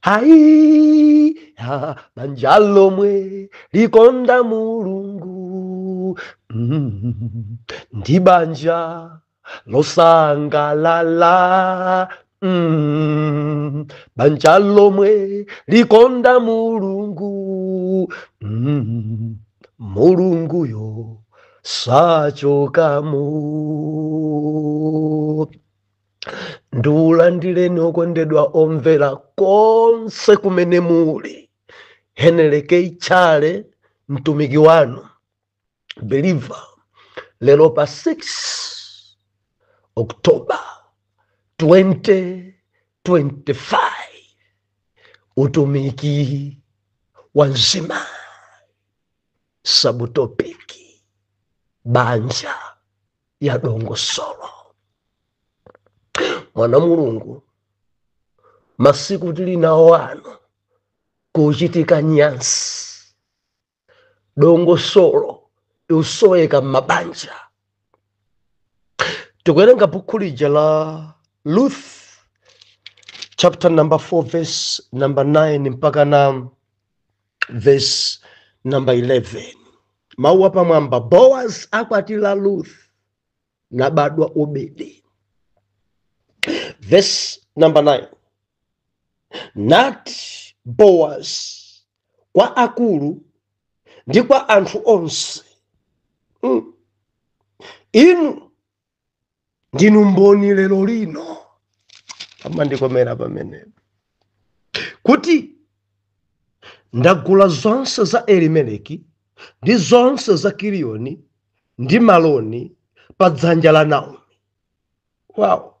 hayi ha banja lomwe likonda mulungu mm, ndi banja losangalala mm, banja lomwe likonda mulungu mm, mulunguyo sachokamo ndiulandireni okondedwa omvera konse kumene muli heneleke itchale mtumiki wanu beliva lero pa 6 oktoba 2025 utumiki wa mzima sabutopiki banja ya dongosolo mwana mulungu masiku tili nawo ano kukuchitika nyansi dongosolo likusoweka m'mabanja tikuwerenga bukhu lija la ruth chapter number 4 verse number 9 mpaka na verse number 11 mawu a pamwamba boaz akwatira ruth nabadwa obedi verse number 9 nati boaz kwa akulu ndi kwa anthu onse mm. inu ndinu mboni lero lino amandikomera pamenepo kuti ndagula zonse za elimeleki ndi zonse za kiliyoni ndi maloni pa dzanja la naomi wow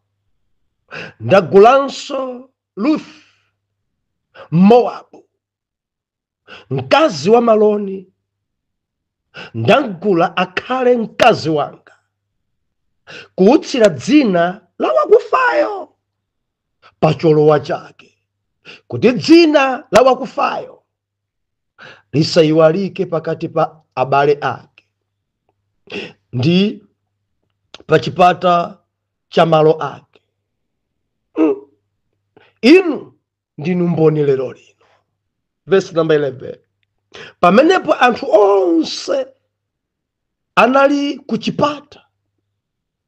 ndagulanso ruth mowabu mkazi wa maloni ndamgula akhale mkazi wanga kuutsira dzina la wakufayo pa cholowa chake kuti dzina la wakufayo lisayiwalike pakati pa abale ake ndi pa chipata cha malo ake Mm. inu ndinu mboni lero lino vesi namba 11 pamenepo anthu onse anali kuchipata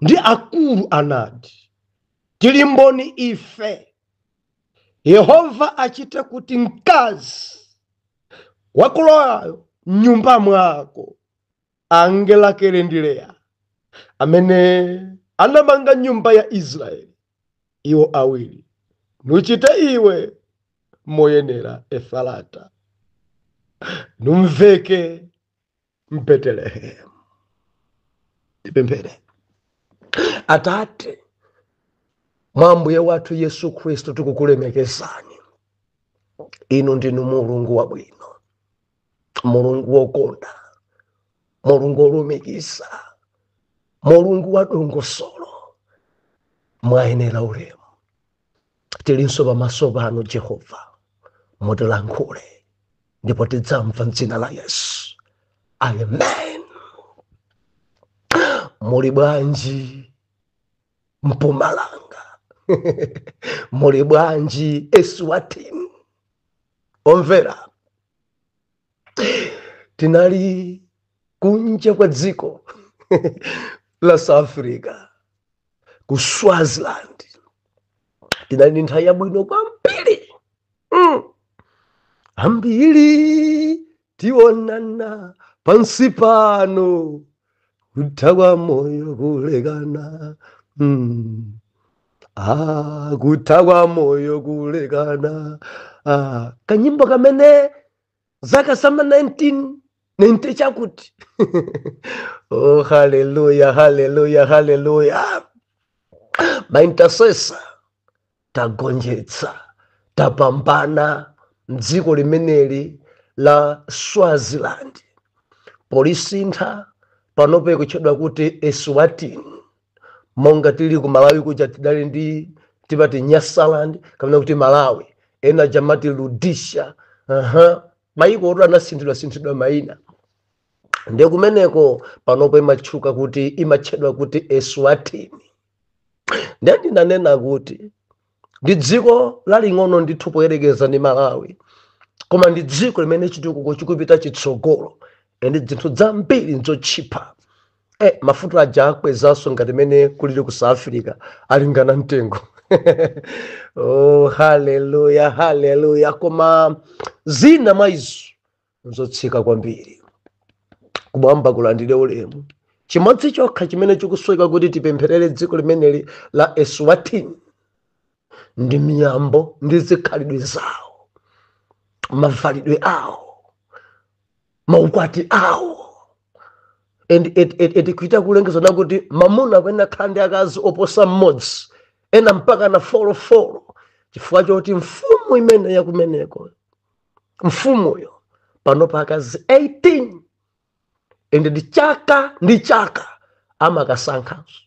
ndi akulu anati tili mboni ife yehova achite kuti mkazi wakulowayo mnyumba mwako ange Rakele ndi Leya amene anamanga nyumba ya Israeli, iwo awiri, nuchite iwe moyenera Efrata, numveke m'Betelehemu. Tipemphere. Atate, mwa Ambuye wathu Yesu Khristu tikukulemekezani. Inu ndinu Mulungu wabwino. mulungu wokonda mulungu wolumikiza mulungu wa dongosolo mwayenera ulemu tilinso pamaso panu jehova mutilankhule ndipo tidzamva mdzina la yesu amen muli bwanji mpumalanga muli bwanji eswatini omvera tinali kunja kwa dziko la south africa ku swaziland tinali ndi nthawi yabwino kwambiri mm. ambiri tionana pansi pano kutha kwa moyo kulekana mm. ah, kutha kwa moyo kulekana ah, kanyimbo kamene zaka sama 19 ninte chakuti oh haleluya haleluya haleluya my intercessor tagonjetsa tapambana mdziko limeneli la swaziland polisintha panopo ikutchedwa kuti eswatini monga tili ku malawi kuja tidali ndi timati nyasaland kapena kuti malawi ena aja amati rhodesia aha maiko oto anasinthidwa sinthidwa maina ndiye kumeneko panopo imatchuka kuti imatchedwa kuti eswatini ndiye ndinanena kuti ndi dziko laling'ono ndithu poyerekeza ndi malawi koma ndi dziko limene chitukuko chikupita chitsogolo ndi zinthu zambiri ndzotchipa e mafuta aja akwezanso ngati mene kulili ku south africa alingana mtengo oh, haleluya haleluya koma zina mwa izo nzotsika kwambiri kumwamba kulandire ulemu chimodzi chokha chimene chikusoweka kuti tipempherere dziko limeneli la eswatini ndi miyambo ndi zikhalidwe zawo mavalidwe awo maukwati awo and it- it- it- kuchita kulengeza nakuti mamuna akuyenera kukhala ndi akazi oposa mmodzi ena mpakana folo folo chifukwa choti mfumu imene yakumeneko mfumuyo panopa akazi 18 ende ndi chaka ndi chaka amakasankhanso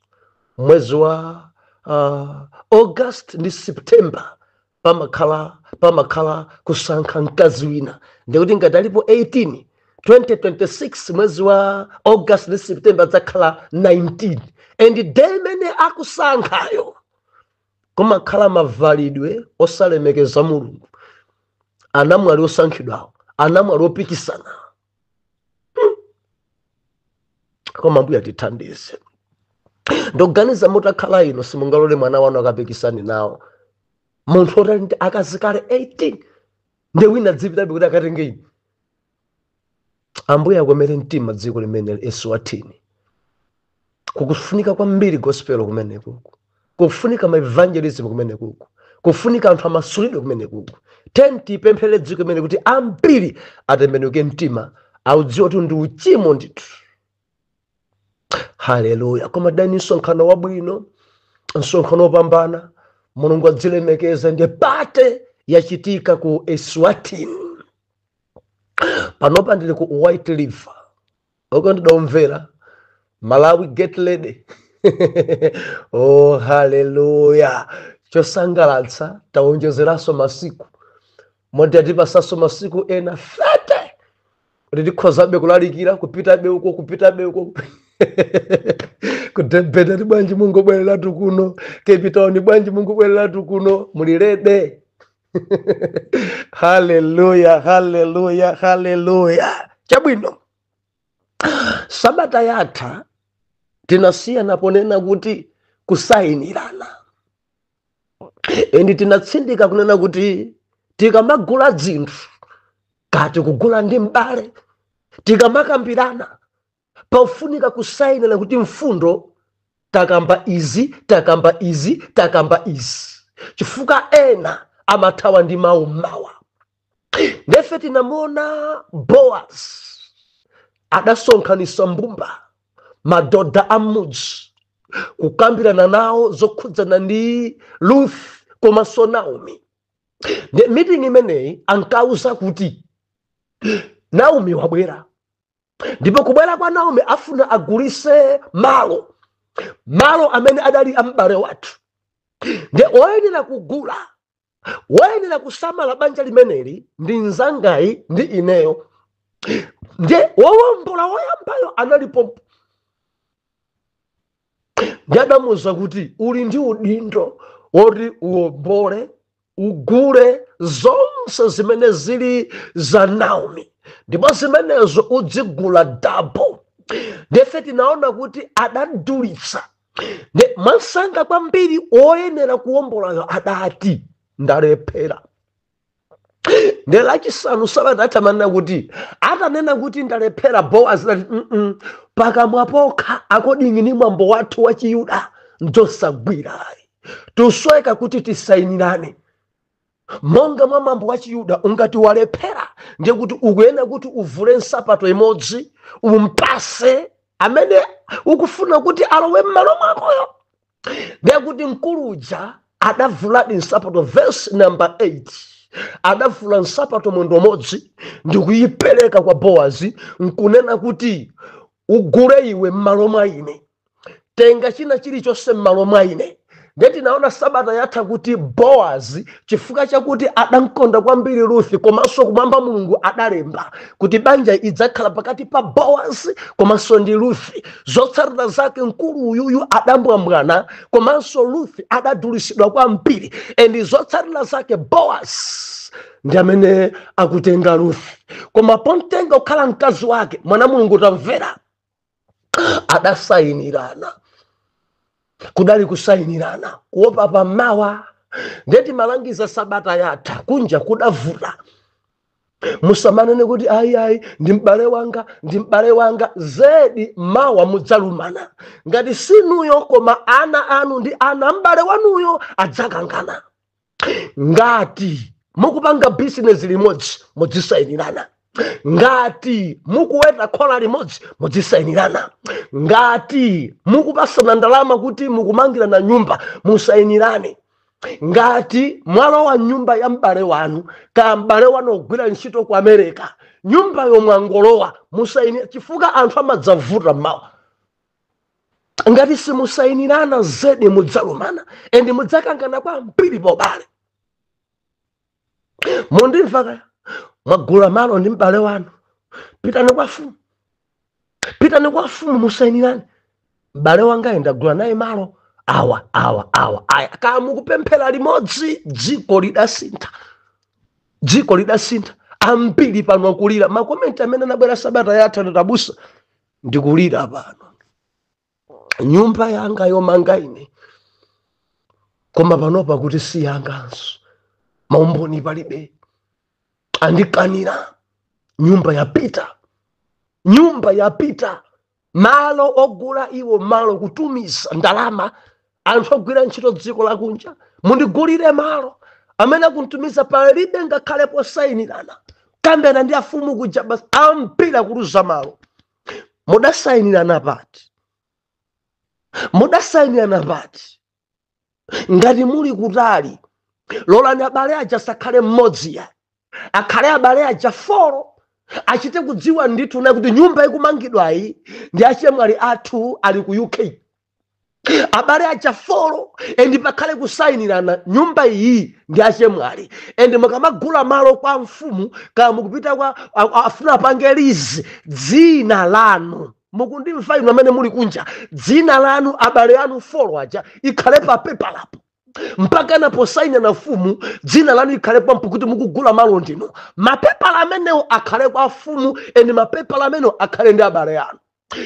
mwezi wa uh, august ndi september pamakhala pamakhala kusankha mkazi wina ndikuti ngati alipo 18 2026 mwezi wa august ndi september adzakhala 19 and day imene akusankhayo kumakhala mavalidwe osalemekeza mulungu anamwali osankhidwawo anamwali opikisana koma mbuya tithandize ndiganiza mutakhala inu simungalole mwana wanu akapikisane nawo munthu oti ali ndi akazi kale 18 nde wina adzipitabe kuti akatenge ine Ambuye akomere mtima dziko limeneli eswatini kukufunika kwambiri gospel kumenekuku kufunika maevangelism kumenekuku kufunika anthu amasulidwe kumenekuku tiyeni tipempherere dziko limene kuti ambiri atembenuke mtima audziwe kuti ndi uchimo ndithu haleluya koma udali msonkhano wabwino msonkhano wopambana mulungu adzilemekeza ndiye update yachitika ku eswatini panopa ndili ku white river uko ndidaumvera malawi get ready oh haleluya chosangalatsa taonjezeranso masiku moti atipasanso masiku ena 30 kuti tikhozabe kulalikira kupitabe uko kupitabe uko ku Durban ati bwanji mungobwereratu kuno Cape Town bwanji mungobwereratu kuno muli ready haleluya haleluya haleluya chabwino sabata yatha tinasiyana ponena kuti kusayinirana and tinatsindika kunena kuti tikamagula dzinthu kati kugula ndi m'bale tikamakambirana pafunika kusayinirana kuti mfundo takamba izi takamba izi takamba izi chifukwa ena amathawa ndi mawu mmawa nde ife tinamuona boaz adasonkhanisa mbumba madoda a m'mudzi kukambirana nawo zokhudzana ndi ruth komanso naomi Nde- meeting imeneyi ankawauza kuti naomi wabwera ndipo kubwera kwa naomi afuna agulise malo malo amene adali am'bale wathu nde oyenera kugula woyenera kusamala banja limeneli ndi mzangayi ndi ineyo nde wowombola woyambayo analipo nde adamuuza kuti uli ndi udindo woti uwombole ugule zonse zimene zili za naomi ndipo zimenezo udzigula double nde ife tinaona kuti adadulitsa Nde- mwamsanga kwambiri woyenera kuwombolayo adati ndalephera nde lachisanu sabata yatha timanena kuti atanena kuti ndalephera boazi adati "Mm-mm, pakamwa pokha according ndi mwambo wathu wachiyuda nzosagwirayi tisoweka kuti tisayinirane monga mwa mwambo wa chiyuda ungati walephera ndiye kuti ukuyenera kuti uvule nsapato imodzi umpase amene ukufuna kuti alowe m'malo mwakoyo ndiye kuti mkulu uja adavuladi nsapato vesi namba 8 adavula nsapato mwendo umodzi ndi kuyipereka kwa bowazi nkunena kuti ugule iwe m'malo mwa ine tenga china chilichonse m'malo mwa ine ndiye tinaona sabata yatha kuti boazi chifukwa chakuti adamkonda kwambiri ruthi komanso kumwamba mulungu adalemba kuti banja idzakhala pakati pa boazi komanso ndi ruthi zotsatira zake mkulu uyuyu adambwambwana komanso ruthi adadulitsidwa kwambiri endi zotsatira zake boazi ndi amene akutenga ruthi koma pomtenga kukhala mkazi wake mwana mulungu tamvera adasayinirana kudali kusayinirana kuopa pamawa nde timalangiza sabata yatha kunja kudavuta musamanene kuti ayi ayi ndi m'bale wanga ndi m'bale wanga zedi mawa mudzalumana ngati sinuyo koma ana anu ndi ana m'bale wanuyo adzakangana ngati mukupanga bizinesi limodzi mudzisayinirana ngati mukuweta khola limodzi mudzisayinirana ngati mukupasana ndalama kuti mukumangirana nyumba musayinirane ngati mwalowa nyumba ya m'bale wanu ka m'bale wanu ogwira ntchito ku america nyumbayo mwangolowa musayinirane chifukwa anthu amadzavuta mmawa ngati simusayinirana zedi mudzalumana endi mudzakangana kwambiri pobale mundimva kaya mwagula malo ndi m'bale wanu pitani kwa mfumu pitani kwa mfumu musayinirane m'bale wangayi ndagula naye malo awa awa awa aya kaya mukupemphera limodzi dziko lidasintha dziko lidasintha ambiri pano akulira makomenti amene anabwera sabata yatha ndi oti abusa ndikulira pano nyumba yanga yomanga ine koma panopa akuti si yanganso maumboni palibe andikanira nyumba yapita nyumba yapita malo ogula iwo malo kutumiza ndalama anthu ogwira ntchito dziko lakunja mundigulire malo amene akuntumiza palibe ngakhale posayinirana kambirana ndi amfumu kuja basi ampira kuluza malo mudasayinirana pati mudasayinirana pati ngati muli kutali lolani abale aja asakhale mmodzi yayi akhale abale aja folo achite kudziwa ndithu na kuti nyumba ikumangidwayi ndi achemwali athu ali ku uk abale aja folo endi pakhale kusayinirana nyumba iyi ndi achemwali endi mukamagula malo kwa mfumu kaya mukupita kwa a- a- afuna apange lizi dzina lanu mukundimva inu amene muli kunja dzina lanu abale anu folo aja ikhale pa pepalapo mpaka naposayina na fumu dzina lanu ikhale pompo kuti mukugula malo ndinu mapepala amenewo akhale kwa fumu endi mapepala amenewo akhale ndi abale anu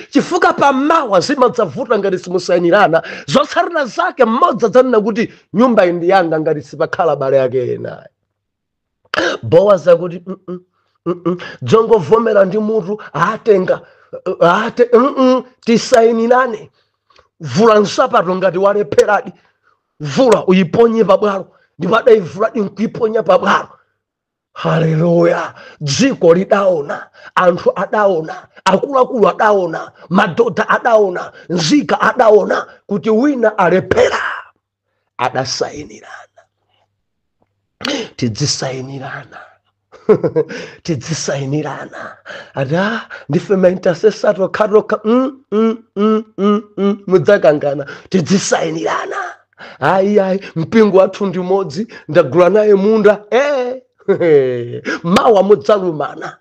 chifukwa pamawa zimadzavuta ngati simusainirana zotsatira zake mmodzi adzanena kuti nyumba iyi ndi yanga ngati sipakhala abale ake enayi boazi akuti "Mm, mm, mm, mm, dzongovomera ndi mutu atenga ate mm, mm, tisainirane vula nsapato ngati walepheradi vula uyiponye pabwalo ndipo adayivuladi nkuyiponya pabwalo haleluya dziko lidaona anthu adaona akuluakulu adaona madhodha adaona nzika adaona kuti wina alephera adasainirana tidzisainirana tidzisainirana ada ndife maintasesa tokhatokha mm, mm, mm, mm, mm, mudzakangana tidzisainirana ayi ayi mpingo wathu ndi umodzi ndagula naye munda eh, mawa mudzalumana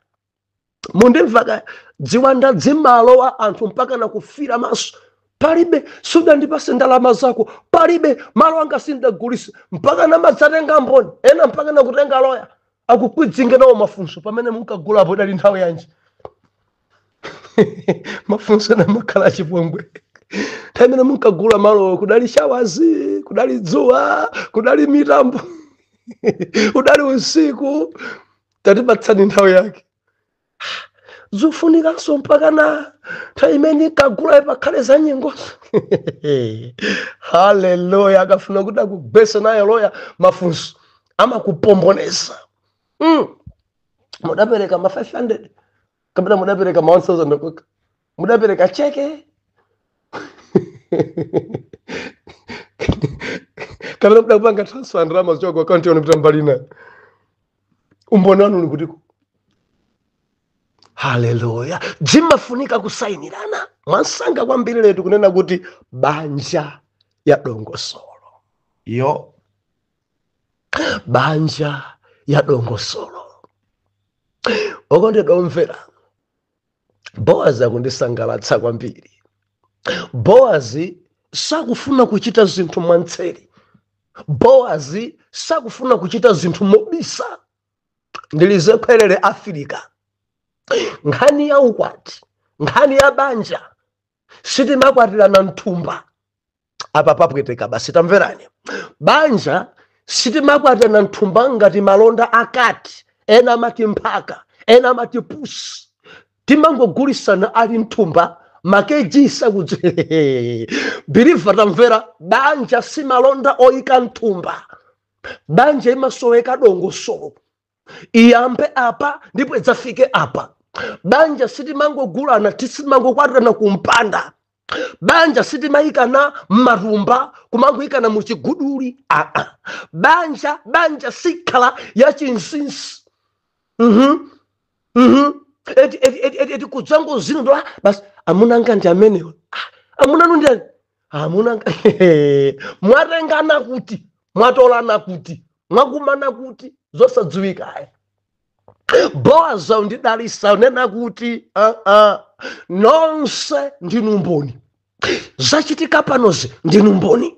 mundimva kaya dziwanda dzimalowa anthu mpaka nakufira maso palibe sudandipatse ndalama zako palibe malo anga sindagulise mpaka namadzatenga mboni ena mpaka nakutenga loya akukwidzinge nawo mafunso pamene munkagulapo idali nthawi yanji mafunso ena amakhala achipongwe nthawi imene munkagula malowo kudali shawazi kudali dzuwa kudali mitambo udali usiku tatipatsani nthawi yake zofunikanso mpaka na nthawi imene munkagula pakhale za nyengozo haleluya akafuna kuti akugwese naye loya mafunso amakupomboneza mm. mudapereka ma 500 kapena mudapereka ma 1000 kwacha mudapereka cheke kapena mudapanga transfer ndalama zochoka ku akaunti yanu kupita mbali ina umboni wanu uli kutiko haleluya zimafunika kusayinirana mwansanga kwambiri letu kunena kuti banja ya dongosolo yo banja ya dongosolo okondedwa omvera boazi akundisangalatsa kwambiri boazi sakufuna kuchita zinthu mwantseri boazi sakufuna kuchita zinthu mobisa ndilize khwerere afirika nkhani ya ukwati nkhani ya banja sitimakwatirana mthumba apa papweteka basi tamverani banja sitimakwatana mthumba ngati malonda a kati ena amati mphaka ena amati pusi timangogulisana ali mthumba makeji sakudzi biliva tamvera banja si malonda oyika mthumba banja imasoweka dongosolo iyambe apa ndipo idzafike apa banja sitimangogulana sitimangokwatirana kumpanda banja sitimayikana m'matumba kumangoyikana mu chiguduli aa banja banja sikhala ya chinsinsi mhm mhm eti eti eti eti, eti kudzangodziwitsidwa basi amuna anga ndi amenewa Ah, amuna anu ndi ani? amuna mwatengana kuti mwatolana kuti mwakumana kuti zosadziwika ayi boazi akundidalitsa kunena kuti uh -uh, nonse ndinu mboni zachitika panozi ndinu mboni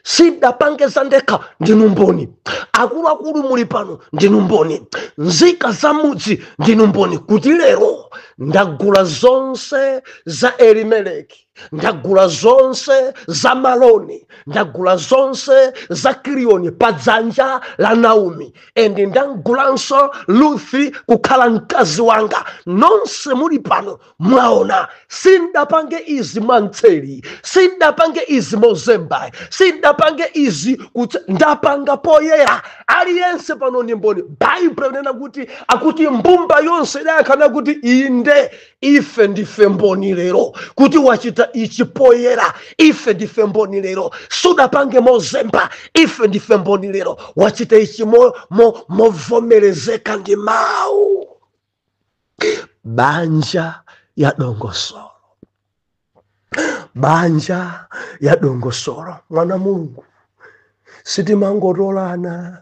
sindapange za ndekha ndinu mboni akuluakulu muli pano ndinu mboni nzika za mudzi ndinu mboni kuti lero ndagula zonse za elimeleki ndagula zonse za maloni ndagula zonse za kiliyoni pa dzanja la naomi and ndagulanso luthi kukhala mkazi wanga nonse muli pano mwaona sindapange izi mwamtseri sindapange izi mozembayi sindapange izi kutse- ndapanga poyera aliyense pano ni mboni baibulo ikunena kuti akuti mbumba yonse idayankha kuti inde ife ndife mboni lero kuti wachita ichi poyera ife ndife mboni lero sudapange mozemba ife ndife mboni lero wachita ichi mo- mo- movomerezeka ndi mawu banja ya dongosolo banja ya dongosolo mwana wa mulungu sitimangotolana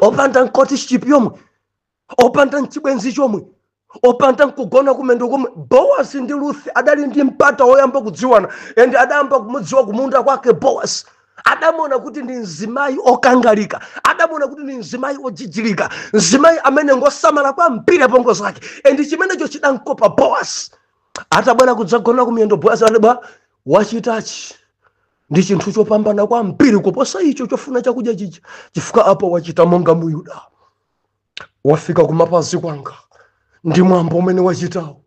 opanda courtship yomwe opanda nchibwenzi chomwe opanda nkugona kumiyendo komwe boasi ndi ruth adali ndi mpata woyamba kudziwana and adayamba kumudziwa kumunda kwake boasi adamona kuti ndi mzimayi okangalika adamona kuti ndi mzimayi ojijirika mzimayi amene ngosamala kwambiri apongo zake and chimenecho chidankopa boasi atabwera kudzagona kumiyendo boasi akuti wachitachi ndi chinthu chopambana kwambiri kuposa icho chofuna chakudya chija chifukwa apo wachita monga muyuda wafika kumapazi kwanga ndi mwambo umene wachitawo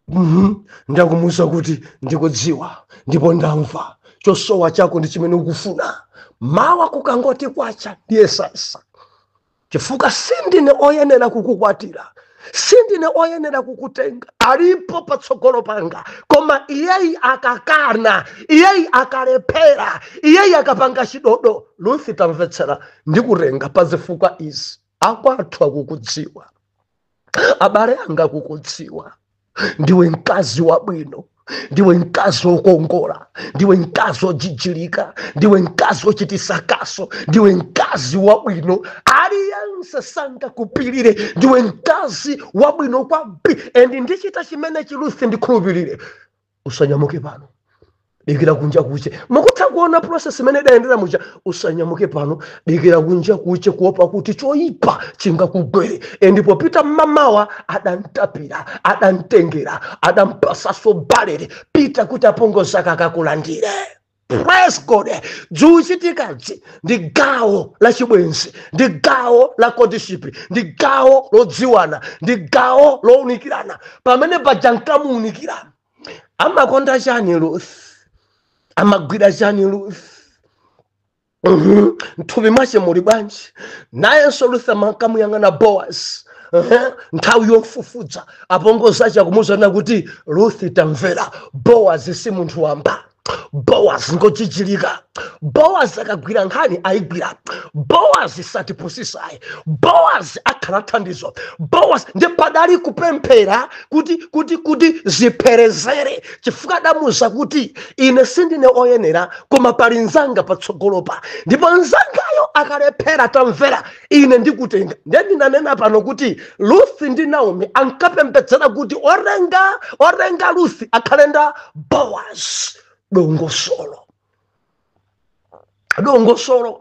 Mhm. ndiye akumuwuza kuti ndikudziwa ndipo ndamva chosowa chako ndi chimene ukufuna mawa kukangoti kwacha ndiyesetsa chifukwa sindine oyenera kukukwatira sindine oyenera kukutenga alipo patsogolo panga koma iyeyi akakana iyeyi akalephera iyeyi akapanga chidodo luthi tamvetsera ndikutenga pa zifukwa izi akwathu akukudziwa abale anga akukudziwa ndiwe mkazi wabwino ndiwe mkazi wokongola ndiwe mkazi wojijilika ndiwe mkazi wochitisa kaso ndiwe mkazi wabwino aliyense sangakupilire ndiwe mkazi wabwino kwambiri and ndichita chimene chili ruth ndikhulupirire usanyamuke pano dikira kunja kuche mukutha kuona process imene idayendera muja usanyamuke pano dikira kunja kuche kuopa kuti choyipa chingakugwere e ndipo pita mmamawa adantapira adantengera adampasaso balere pita kuti apongozi ake akakulandire praise god dzuchitikadzi ndi gawo la chibwenzi ndi gawo la courtship ndi gawo lodziwana ndi gawo lowunikirana pamene paja nkamuwunikira amakonda chani ruth amagwira chani ruth mthupi mwache muli bwanji nayenso ruth ankamuyang'ana boas nthawi yomfufudza apongozi ache akumuuza kunena kuti ruth tamvera boas si munthu wamba boas ngojijilika boas akagwira nkhani ayigwira boas satipusisayi boas akhala thandizo boas ndi padali kupemphera kuti kuti kuti zipherezere chifukwa adamuuza kuti ine sindine oyenera koma pali nzanga patsogolopa ndipo nzangayo akalephera tamvera ine ndikutenga ndiye ndinanena pano kuti luthi ndi naomi ankapembedzera kuti orenga orenga luthi akhale wa boaz dongosolo dongosolo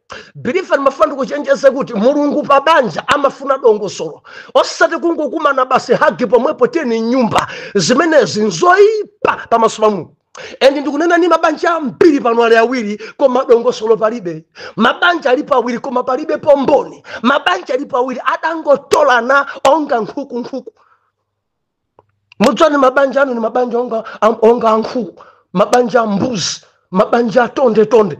bilifa ndimafuna ndikuchenjezeni kuti mulungu pa banja amafuna dongosolo osati kungokumana basi hagi pomwepo tiyeni mnyumba zimenezi nzoyipa pamaso pa mulungu and ndikunena ni mabanja ambiri pano ali awiri koma dongosolo palibe mabanja ali pawiri koma palibe pomboni mabanja ali pawiri adangotolana onga nkhuku nkhuku mudzani mabanja anu ni mabanja onga ankhuku mabanja ambuzi mabanja atonde tonde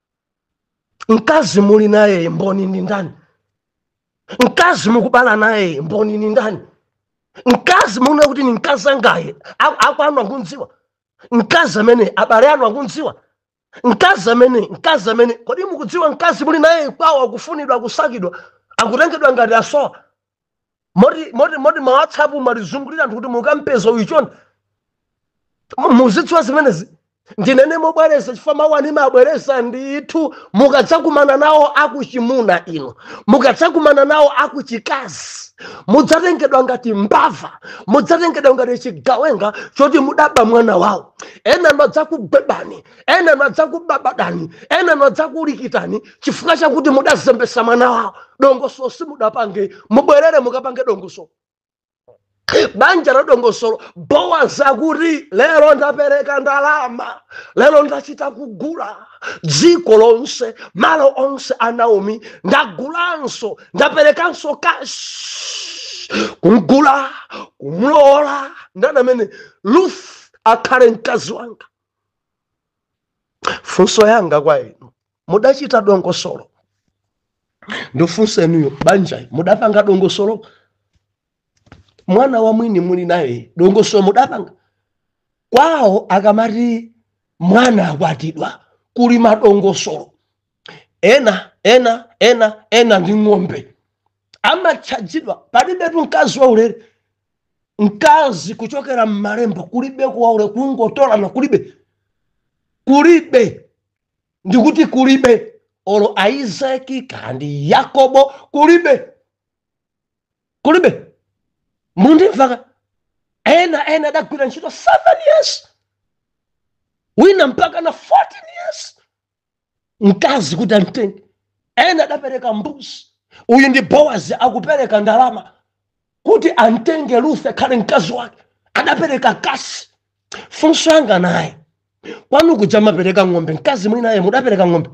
mkazi muli naye mboni ni ndani mkazi mukubala naye mboni ni ndani mkazi muona kuti ni mkazi angaye akwanu akunziwa mkazi amene abale anu akunziwa mkazi amene mkazi amene kodi mukudziwa mkazi muli naye kwawo akufunidwa akusakidwa akutengedwa ngati asowa moti moti moti ma whatsapp malikuzungulira kuti mukampeza uyu chonde mutidziwitse zimenezi ndinene mobwereza chifukwa mawu anga ndimabwereza ndithu mukadzakumana nawo akuchimuna inu mukadzakumana nawo akuchikazi mudzatengedwa ngati mbava mudzatengedwa ngati chigawenga choti mudaba mwana wawo ena madzakugwebani ena anu adzakubabadani ena anu adzakulikitani chifukwa chakuti mudazembesa mwana wawo dongosolo simudapange mubwerere mukapange dongosolo banja la dongosolo bowazi akuti lero ndapereka ndalama lero ndachita kugula dziko lonse malo onse a naomi ndagulanso ndaperekanso kashi kumgula kumlowola ndani amene ruth akhale mkazi wanga funso yanga kwa inu mudachita dongosolo ndifunsa inuyo banjai mudapanga dongosolo mwana wa mwini muli naye dongosolo mudapanga kwawo akamati mwana akwatidwa kuli madongosolo ena ena ena ena ndi ng'ombe amatchajidwa palibetu mkazi waulere mkazi kuchokera m'malemba kulibe kuwaule kungotolana kulibe kulibe ndikuti kulibe olo aizaki kaya ndi yakobo kulibe kulibe mundimvaka ena ena adagwira ntchito 7 years wina mpaka na 14 years mkazi kuti amtenge ena adapereka mbuzi uyu ndi bowazi akupereka ndalama kuti amtenge ruth akhale mkazi wake adapereka kashi funso yanga naye kwanu kuja mapereka ng'ombe mkazi muli naye mudapereka ng'ombe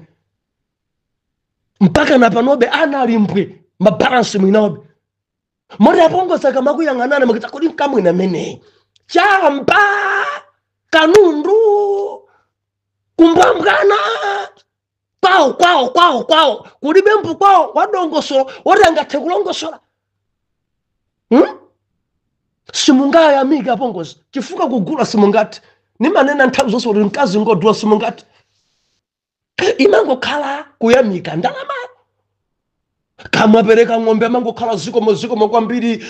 mpaka na panobe anali mbwe mabalansi mwinaobe moti apongozi akamakuyang'anani makita kodi mkamwini ameneyi chamba kanundu kumbwambwana kwawo kwawo kwawo kwawo kulibe mpu kwawo wadongosolo woti angathe kulongosola hmm? simungayamike apongozi chifukwa kugula simungati nimanena nthawi zonse kuti mkazi ngodula simungati imangokhala kuyamika ndalama akamapereka ng'ombe imangokhala zikomo zikomo kwambiri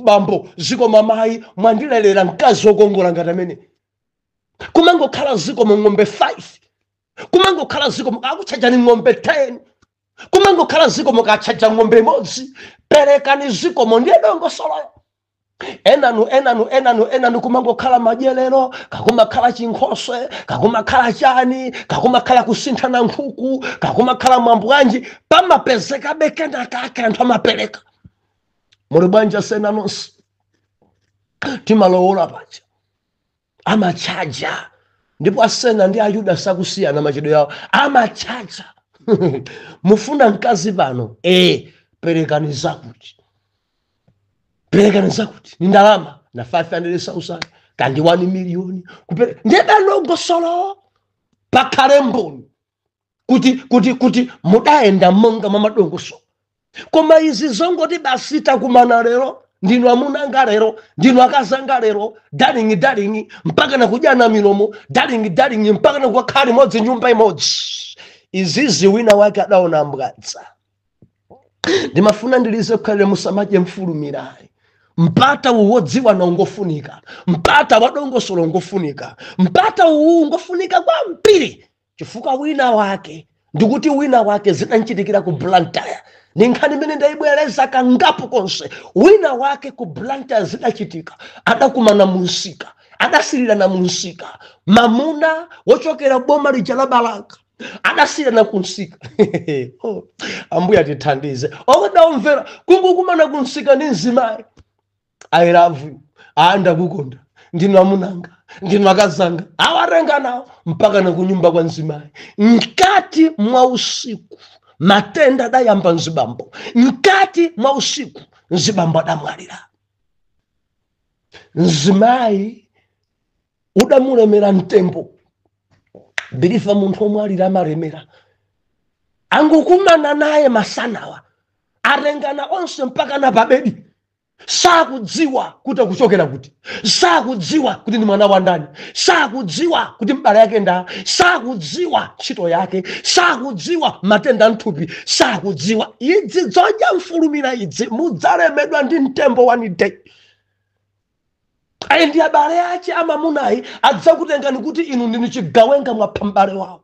bambo zikomo mayi mwandilelera mkazi wokongola ngati amene kumangokhala zikomo ng'ombe 5 kumangokhala zikomo akakutchajani ng'ombe 10 kumangokhala zikomo akatchaja ng'ombe imodzi perekani zikomo ndiye dongosoloyo enanu enanu enanu enanu kumangokhala madyerero kaya kumakhala chinkhoswe kaya kumakhala chani kaya kumakhala kusinthana nkhuku kaya kumakhala mwambo wanji pamapezekabe kenakake anthu amapereka muli bwanja sena nonse timalowola paja amatchaja ndipo asena ndi ayuda sakusiyana machedwe yawo amatchaja mufuna mkazi pano ee perekani zakuti perekani zakuti ni ndalama na 500,000 kaya ndi 1 miliyoni kupere ndiye pali dongosolo pakhale mboni kuti kuti kuti mudayenda monga mwa madongosolo koma izi zongoti basi takumana lero ndinu amuna anga lero ndinu akazi anga lero darling darling mpaka na kudyana milomo darling darling mpaka na kukhala limodzi nyumba imodzi izizi wina wake adaona mbwadza ndimafuna ndili nkukhalira musamadye mfulumirayi mpata uwu wodziwana ngofunika mpata wadongosolo ngofunika mpata uwu ngofunika kwambiri chifukwa wina wake ndikuti wina wake zidamchitikira ku blantyre ni nkhani imene ndayibwereza kangapo konse wina wake ku blantyre zidachitika adakumana mumsika adasirirana mumsika mamuna wochokera boma lija la balaka adasirirana kumsika Oh, ambuye atithandize okay adaomvera kungokumana kumsika ndi mzimayi i love you aa ndakukonda ndinu amunanga ndinu akazanga atengana nawo mpaka na kunyumba kwa mzimayi mkati mwa usiku matenda adayamba mzibambo mkati mwa usiku mzibambo adamwalira mzimayi udamulemera mtembo believer munthu womwalira amalemera angokumana naye masanawa atengana onse mpaka na pabedi sakudziwa kuti akuchokera kuti sakudziwa kuti ndi mwana wa ndani sakudziwa kuti mbale wake nda sakudziwa ntchito yake sakudziwa matenda a mthupi sakudziwa izi zodya mfulumira izi mudzalemedwa ndi mtembo one day ayi ndi abale ache amamunayi adzakutengani kuti inu ndinu chigawenga mwapha mbale wawo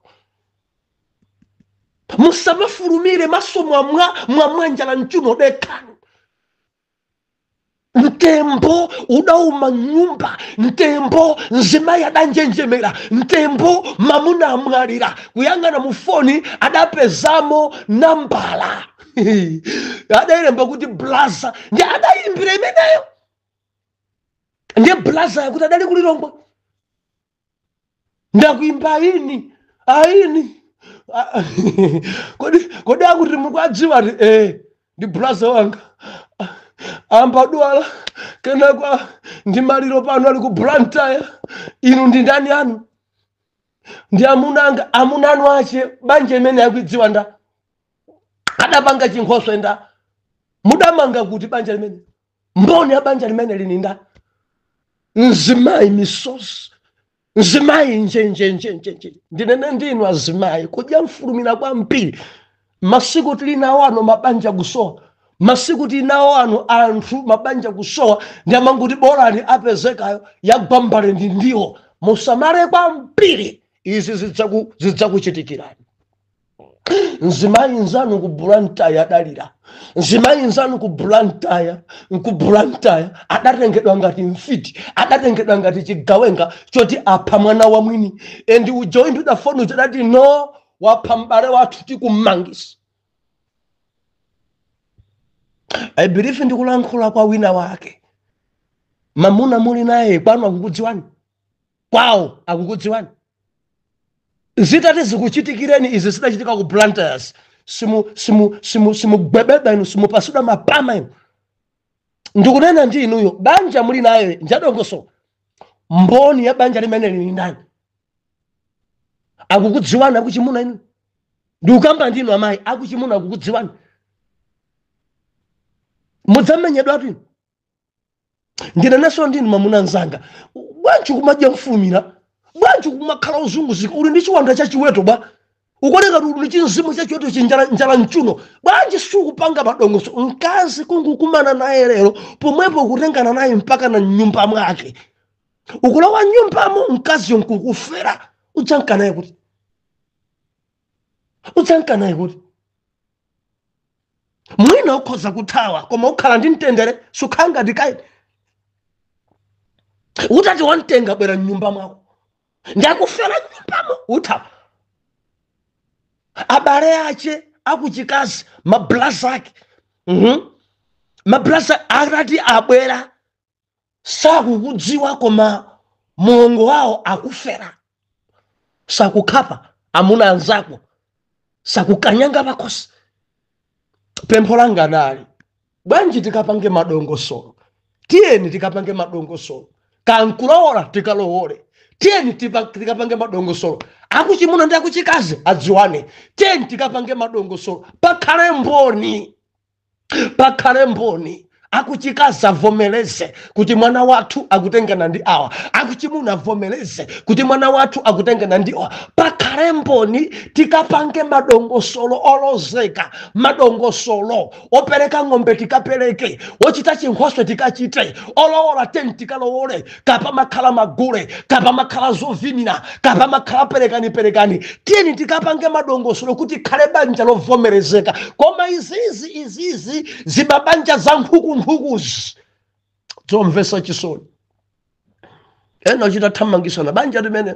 musamafulumire maso mwamwa mwamwa njala mchiuno dekhani mtembo udauma nyumba mtembo mzimayi adanjenjemera mtembo mamuna amwalira kuyang'ana mu foni adapezamo nambala adayilemba kuti blaza ndiye adayimbira imeneyo ndiye blaza yakuti adali ku lilongwe ndakuimba ayini ayini Ah, kodi akuti mukwadziwa ti eh ndi blaza wanga Ah, ambadwala kenako ndi maliro pano ali ku Blantyre inu ndi ndani aa ndi amuna anga amuna anu ache banja limene akulidziwa nda adapanga chinkhoswe nda mudamanga kuti banja limene mboni ya banja limeneli ni ndani mzimayi misozi mzimayi njenjenjenjenje ndinene ndinu azimayi kudya mfulumira kwambiri masiku tili nawo ano mabanja kusowa masiku tili nawo ano anthu mabanja kusowa ndi amangoti bolani apezekayo yagwa m'mbale ndi ndiwo musamale kwambiri izi zidzaku- zidzakuchitikirani mzimayi nzanu ku blantyre adalira mzimayi nzanu ku blantyre ku blantyre adatengedwa ngati mfiti adatengedwa ngati chigawenga choti apha mwana wa mwini and uja woimbidwa foni uja adati no wapha m'bale wathu tikummangisa i believe ndikulankhula kwa wina wake mamuna muli naye kwanu akukudziwani kwawo akukudziwani zitati zikuchitikireni izi zidachitika ku blantyre simu simu simu simugwebedwa inu simupatsidwa mapama inu ndikunena ndi inuyo banja muli nayo njadongoso mboni ya banja limeneli ni ndani akukudziwani akuchimuna inu ndikukamba ndinu amayi akuchimuna akukudziwani mudzamenyedwatu inu ndinenanso ndinu mamuna mzanga bwanji kumadya mfumira bwanji kumakhala uzunguzika uli ndi chiwanda cha chiweto bwa ukuoneka kuti uli ndi chimzimu cha chiweto chinjala mchuno bwanji sukupanga madongoso mkazi kungukumana naye lero pomwepo kutengana naye mpakana mnyumba mwake ukulowa mnyumbamo mkaziyo nkukufera udzanka naye kuti udzanka naye kuti mwina ukhoza kuthawa koma ukhala ndi mtendere sukhala ngati kaini utati wamtenga bwera mnyumba mwako ndakufera mnyumbamo uthawa abale ache akuchikazi mablaza ake mablaza atati abwera sakukudziwa koma mulongo wawo akufera sakukhapa amuna anzako sakukanyanga pakhosi pempho langa nali bwanji tikapange madongosolo tiyeni tikapange madongosolo kaya nkulowola tikalowole tiyeni tipa- tikapange madongosolo akuchimuna ndi akuchikazi adziwane tiyeni tikapange madongosolo pakhale mboni pakhale mboni akuchikazi avomereze kuti mwana wathu akutengana ndi awa akuchimuna avomereze kuti mwana wathu akutengana ndi awa pakhale mboni tikapange madongosolo olozeka madongosolo opereka ng'ombe tikapereke ochita chinkhoswe tikachite olowola tiyeni tikalowole kaya pamakhala magule kaya pamakhala zovinira kaya pamakhala perekani perekani tiyeni tikapange madongosolo kuti likhale banja lovomerezeka koma izizi izizi zimabanja za nkhukunkhukuzi zomvesa chisoni ena kuchita thamangisana banja limene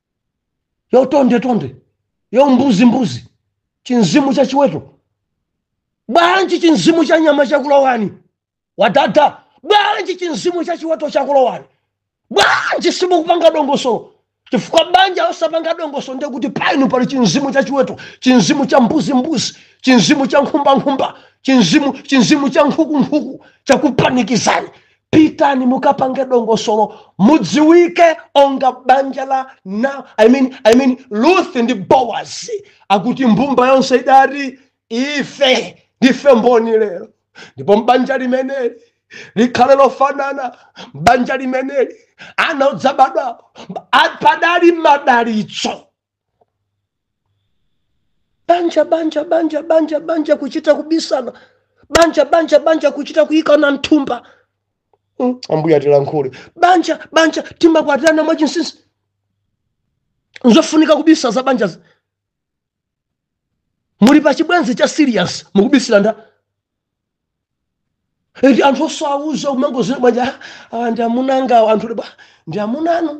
yotondetonde yombuzimbuzi chinzimu cha chiweto bwanji chinzimu cha nyama chakulowani wadada bwanji chinzimu cha chiweto chakulowani bwanji simukupanga dongosolo chifukwa banja osapanga dongosolo ndiye kuti painu pali chinzimu cha chiweto chinzimu cha mbuzimbuzi chinzimu cha nkhumbankhumba chinzimu chinzimu cha nkhukunkhuku chakupanikizani pitani mukapange dongosolo mudziwike onga banja la nao I mean, I mean, ruth ndi bowazi akuti mbumba yonse idati ife ndife mboni lero ndipo mbanja limeneli likhale lofanana mbanja limeneli ana odzabadwapo padali madalitso banja banja banja banja banja kuchita kubisana banja banja banja kuchita kuyikana mthumba Mm, ambuye atilankhule banja banja timakwatirana mwachinsinsi nzofunika kubisa za banja muli pa chibwenzi cha serious mukubisira nda eti anthu osawuza umangozira banja awa ndi amuna angawa anthu kudabwa ndi amuna anu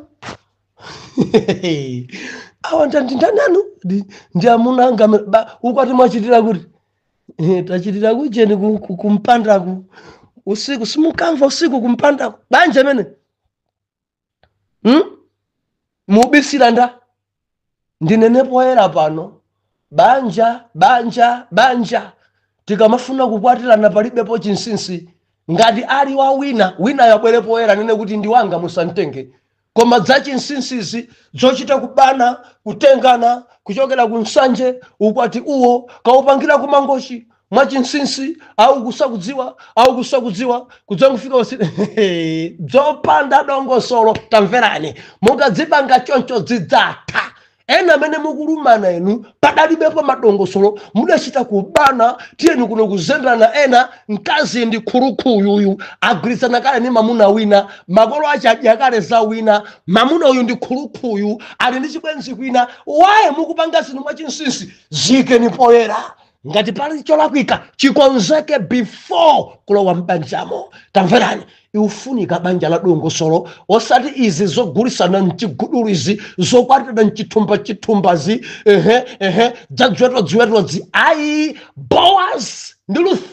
awa ndi ndi ndani anu Ndi- ndi amuna anga amene- ba ukwati mwachitira kuti Eh, tachitira kujeni ku- ku- kumpandaku usiku simukamva usiku kumpandaku banja amene hmm? mubisira nda ndinene poyera pano banja banja banja tikamafuna kukwatirana palibepo chinsinsi ngati ali wa wina winayo abwere poyera anene kuti ndi wanga musamtenge koma za chinsinsizi zochita kubana kutengana kuchokera ku nsanje ukwati uwo kaupangira ku mangochi mwachinsinsi auku sakudziwa auku sakudziwa kudzangofika basi dzopanda dongosolo tamverani mungadzipanga choncho dzidzatha ena amene mukulumana inu padalibepo madongosolo mudachita kubana tiyeni kuno kuzemberana ena mkazi ndi crook uyu agwirizana kale ndi mamuna wina makolo ache adya kale za wina mamuna uyu ndi crook uyu ali ndi chibwenzi kwina why mukupanga zinthu mwachinsinsi ziikeni poyera ngati pali cholakwika chikonzeke before kulowa m'banjamo tamverani likufunika banja la dongosolo osati izi zogulisana mchigudulu izi zokwatirana mchithumba chithumbazi ehe ehe dza dziweto dziwetodzi ayi boaz ndi ruth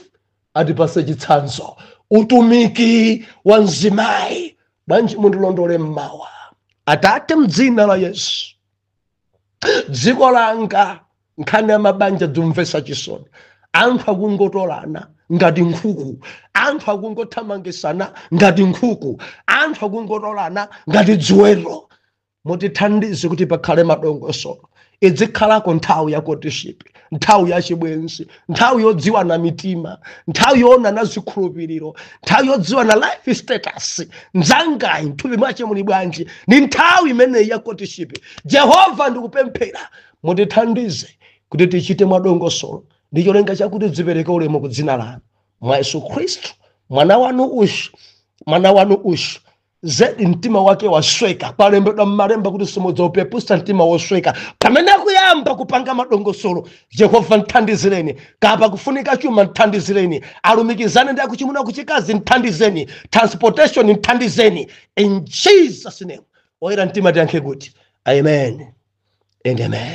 atipase chitsanzo utumiki wa mzimayi bwanji mundilondole mmawa atate mdzina la yesu dziko langa nkhani ya mabanja dzomvesa chisoni anthu akungotolana ngati nkhuku anthu akungothamangisana ngati nkhuku anthu akungotolana ngati dziweto mutithandize kuti pakhale madongosolo idzikhalako nthawi ya courtship nthawi ya chibwenzi nthawi yodziwana mitima nthawi yoonana zikhulupiriro nthawi yodziwana life status mzangayu mthupi mwache muli bwanji ni nthawi imeneyi ya courtship jehova ndikupemphera mutithandize kuti tichite mwadongosolo ndi cholinga chakuti zipereke ulemu ku dzina lanu mwa yesu khristu mwana wanu ushu mwana wanu ushu zedi mtima wake wasweka kwalembedwa mmalemba kuti simudzaupeputsa mtima wosweka pamene akuyamba kupanga madongosolo jehova mthandizireni kapa kufunika chuma mthandizireni alumikizane ndi akuchimuna kuchikazi mthandizeni transportation mthandizeni in jesus name oyera mtima tiyankhe kuti amen and amen